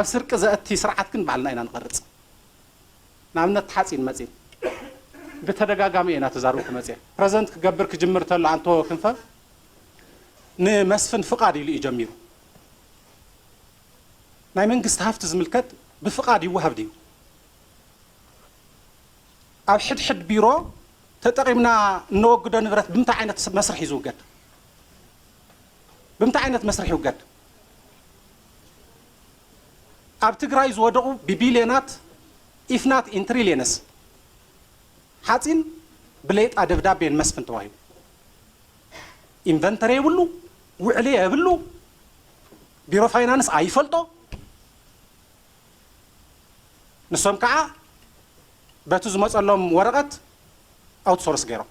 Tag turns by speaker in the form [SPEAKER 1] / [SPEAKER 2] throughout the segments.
[SPEAKER 1] ኣብ ስርቂ ዘእቲ ስርዓት ግን ባዕልና ኢና ንቐርጽ። ንኣብነት ሓጺን መጺን ብተደጋጋሚ እየ እናተዛረብኩ መጺኤ። ፕረዘንት ክገብር ክጅምር ተሎ ኣንቶ ክንፈ ንመስፍን ፍቓድ ኢሉ እዩ ጀሚሩ። ናይ መንግስቲ ሃፍቲ ዝምልከት ብፍቓድ ይወሃብ ድዩ? ኣብ ሕድሕድ ቢሮ ተጠቒምና እነወግዶ ንብረት ብምንታይ ዓይነት መስርሕ እዩ ዝውገድ? ብምንታይ ዓይነት መስርሕ ይውገድ? ኣብ ትግራይ ዝወደቑ ብቢልዮናት ኢፍ ናት ኢን ትሪልዮንስ ሓፂን ብሌጣ ደብዳቤ ንመስፍን ተዋሂቡ። ኢንቨንተሪ የብሉ፣ ውዕሊ የብሉ፣ ቢሮ ፋይናንስ ኣይፈልጦ። ንሶም ከዓ በቲ ዝመፀሎም ወረቐት ኣውትሶርስ ገይሮም።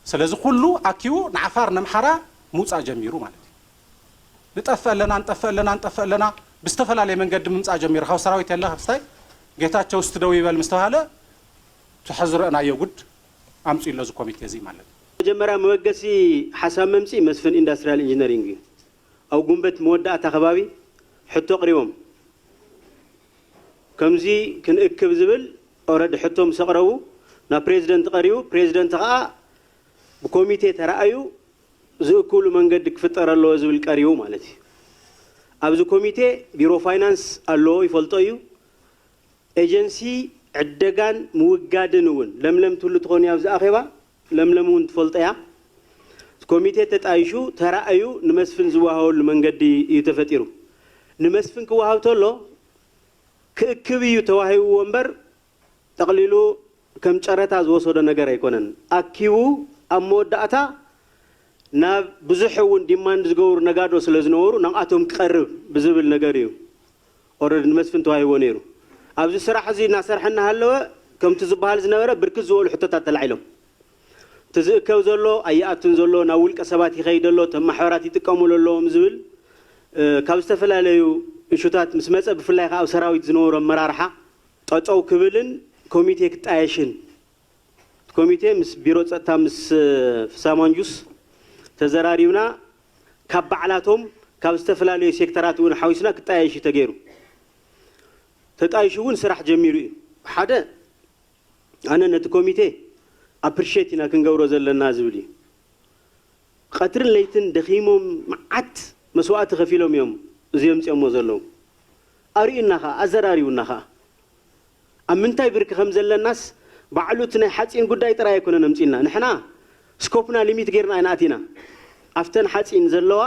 [SPEAKER 1] ሰለዚ ኩሉ ኣኪቡ ንዓፋር ነምሓራ ምውጻእ ጀሚሩ ማለት እዩ ንጠፍእ ኣለና ንጠፍእ ኣለና ንጠፍእ ኣለና ብዝተፈላለየ መንገዲ ምምጻእ ጀሚሩ ካብ ሰራዊት የለ ካብ ስታይ ጌታቸው እስቲ ደው ይበል ምስ ተባሃለ ትሕዝረእናዮ ጉድ ኣምጺኡ ኣሎ እዚ ኮሚቴ እዚ ማለት እዩ። መጀመርያ መበገሲ
[SPEAKER 2] ሓሳብ መምጽኢ መስፍን ኢንዳስትርያል ኢንጂነሪንግ እዩ። ኣብ ጉንበት መወዳእታ ከባቢ ሕቶ ኣቕሪቦም። ከምዚ ክንእክብ ዝብል ኦረዲ ሕቶ ምስ ኣቕረቡ ናብ ፕሬዚደንት ቀሪቡ ፕሬዚደንት ኸኣ ብኮሚቴ ተራእዩ ዝእክብሉ መንገዲ ክፍጠር ኣለዎ ዝብል ቀሪቡ ማለት እዩ። ኣብዚ ኮሚቴ ቢሮ ፋይናንስ ኣለዎ ይፈልጦ እዩ። ኤጀንሲ ዕደጋን ምውጋድን እውን ለምለም ትህሉ ትኾን እያ ኣብዚ ኣኼባ? ለምለም እውን ትፈልጦ እያ። እቲ ኮሚቴ ተጣይሹ ተራእዩ ንመስፍን ዝወሃበሉ መንገዲ እዩ ተፈጢሩ። ንመስፍን ክወሃብ ተሎ ክእክብ እዩ ተዋሂብዎ እምበር ጠቕሊሉ ከም ጨረታ ዝወሰዶ ነገር ኣይኮነን። ኣኪቡ ኣብ መወዳእታ ናብ ብዙሕ እውን ዲማንድ ዝገብሩ ነጋዶ ስለዝነበሩ ናብኣቶም ክቐርብ ብዝብል ነገር እዩ። ኦረዲ ንመስፍን ተዋሂብዎ ነይሩ። ኣብዚ ስራሕ እዚ እናሰርሐ እናሃለወ ከምቲ ዝበሃል ዝነበረ ብርክት ዝበሉ ሕቶታት ተላዒሎም። እቲ ዝእከብ ዘሎ ኣይኣቱን ዘሎ፣ ናብ ውልቀ ሰባት ይኸይድ ኣሎ፣ እቶም ማሕበራት ይጥቀሙሉ ኣለዎም ዝብል ካብ ዝተፈላለዩ እሹታት ምስ መፀ ብፍላይ ከዓ ኣብ ሰራዊት ዝነበሩ ኣመራርሓ ጠጠው ክብልን ኮሚቴ ክጣየሽን እቲ ኮሚቴ ምስ ቢሮ ፀጥታ ምስ ፍሳ ማንጁስ ተዘራሪብና ካብ ባዕላቶም ካብ ዝተፈላለዩ ሴክተራት እውን ሓዊስና ክጣየሽ እዩ ተገይሩ። ተጣይሹ እውን ስራሕ ጀሚሩ እዩ። ሓደ ኣነ ነቲ ኮሚቴ ኣፕሪሼት ኢና ክንገብሮ ዘለና ዝብል እዩ። ቐትርን ለይትን ደኺሞም መዓት መስዋእቲ ከፊሎም እዮም እዚ የምፅኦሞ ዘለዉ። ኣርእዩና ከዓ ኣዘራሪቡና ከዓ። ኣብ ምንታይ ብርኪ ከም ዘለናስ ባዕሉ እቲ ናይ ሓጺን ጉዳይ ጥራይ ኣይኮነን ኣምጺእልና ንሕና ስኮፕና ሊሚት ጌርና ኢና ኣቲና ኣብተን ሓጺን ዘለዋ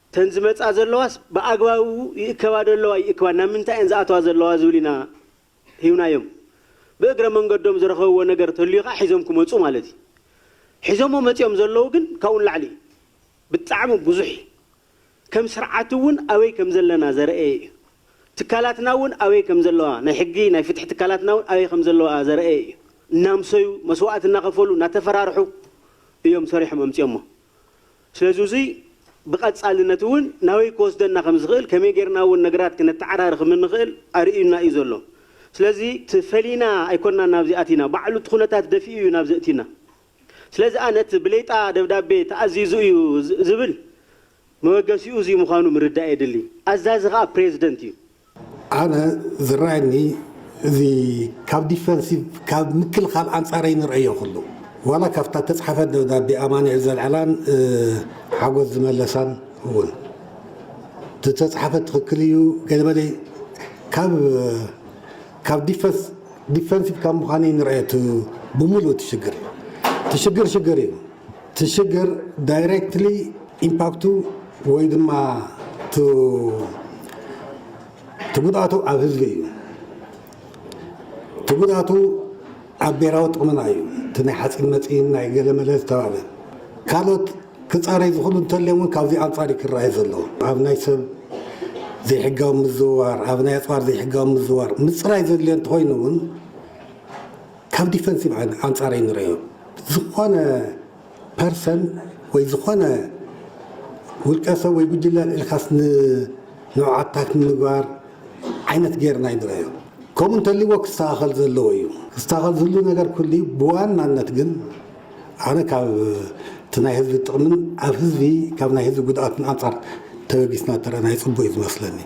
[SPEAKER 2] እተን ዝመጻ ዘለዋስ ብኣግባቡ ይእከባ ዶ ኣለዋ ኣይእክባን ናብ ምንታይ እየን ዝኣተዋ ዘለዋ ዝብል ኢና ሂብናዮም ብእግረ መንገዶም ዝረኸብዎ ነገር ተልዩ ከኣ ሒዞም ክመጹ ማለት እዩ ሒዞሞ መጺኦም ዘለዉ ግን ካብኡ ንላዕሊ እዩ ብጣዕሚ ብዙሕ እዩ ከም ስርዓት እውን ኣበይ ከም ዘለና ዘረእየ እዩ። ትካላትና እውን ኣበይ ከም ዘለዋ፣ ናይ ሕጊ ናይ ፍትሒ ትካላትና እውን ኣበይ ከም ዘለዋ ዘረእየ እዩ። እናምሰዩ፣ መስዋእቲ እናኸፈሉ፣ እናተፈራርሑ እዮም ሰሪሖም ኣምፂኦሞ። ስለዚ እዙይ ብቐፃልነት እውን ናበይ ክወስደና ከም ዝኽእል፣ ከመይ ገይርና እውን ነገራት ክነተዓራሪ ከም እንኽእል ኣርእዩና እዩ ዘሎ። ስለዚ እቲ ፈሊና ኣይኮናን ናብዚ ኣቲና፣ ባዕሉ እቲ ኩነታት ደፊኡ እዩ ናብዚ ኣእትዩና። ስለዚ ኣነ እቲ ብሌጣ ደብዳቤ ተኣዚዙ እዩ ዝብል መበገሲኡ እዙይ ምዃኑ ምርዳእ የድሊ። ኣዛዚ ኸኣ ፕሬዝደንት እዩ። ኣነ
[SPEAKER 3] ዝረኣየኒ እዚ ካብ ዲፈንሲቭ ካብ ምክልኻል ኣንጻር ኣይንርኣዮ ኩሉ ዋላ ካብታ እተጽሓፈት ደብዳቤ ኣማኑኤል ዘልዓላን ሓጎስ ዝመለሳን እውን እተጽሓፈት ትኽክል እዩ ገለመለ ካብ ካብ ዲፈንስ ዲፈንሲቭ ካብ ምዃን እዩ ንርኦ እቲ ብሙሉኡ እቲ ሽግር እቲ ሽግር ሽግር እዩ እቲ ሽግር ዳይሬክትሊ ኢምፓክቱ ወይ ድማ እቲ ጉድኣቱ ኣብ ህዝቢ እዩ እቲ ጉድኣቱ ኣብ ብሄራዊ ጥቕምና እዩ እቲ ናይ ሓፂን መፂን ናይ ገለመለ ዝተባህለ ካልኦት ክጻረይ ዝኽእሉ እንተልዮም እውን ካብዚ ኣንጻር እዩ ክረኣይ ዘለዎ። ኣብ ናይ ሰብ ዘይሕጋዊ ምዝውዋር፣ ኣብ ናይ ኣጽዋር ዘይሕጋዊ ምዝውዋር ምጽራይ ዘድልዮ እንተኾይኑ እውን ካብ ዲፈንሲቭ ኣንጻር እዩ ንርእዮ። ዝኾነ ፐርሰን ወይ ዝኾነ ውልቀ ሰብ ወይ ጉጅለ ኢልካስ ንንዑ ኣታክ ንምግባር ዓይነት ጌርና እዩ ንርእዮ። ከምኡ እንተልይዎ ክስተኻኸል ዘለዎ እዩ። ክስተኻኸል ዝህሉ ነገር ክህሉ እዩ። ብዋናነት ግን ኣነ ካብ እቲ ናይ ህዝቢ ጥቕምን ኣብ ህዝቢ ካብ ናይ ህዝቢ ጉድኣትን ኣንፃር ተበጊስና እንተረኣና ፅቡቅ እዩ ዝመስለኒ።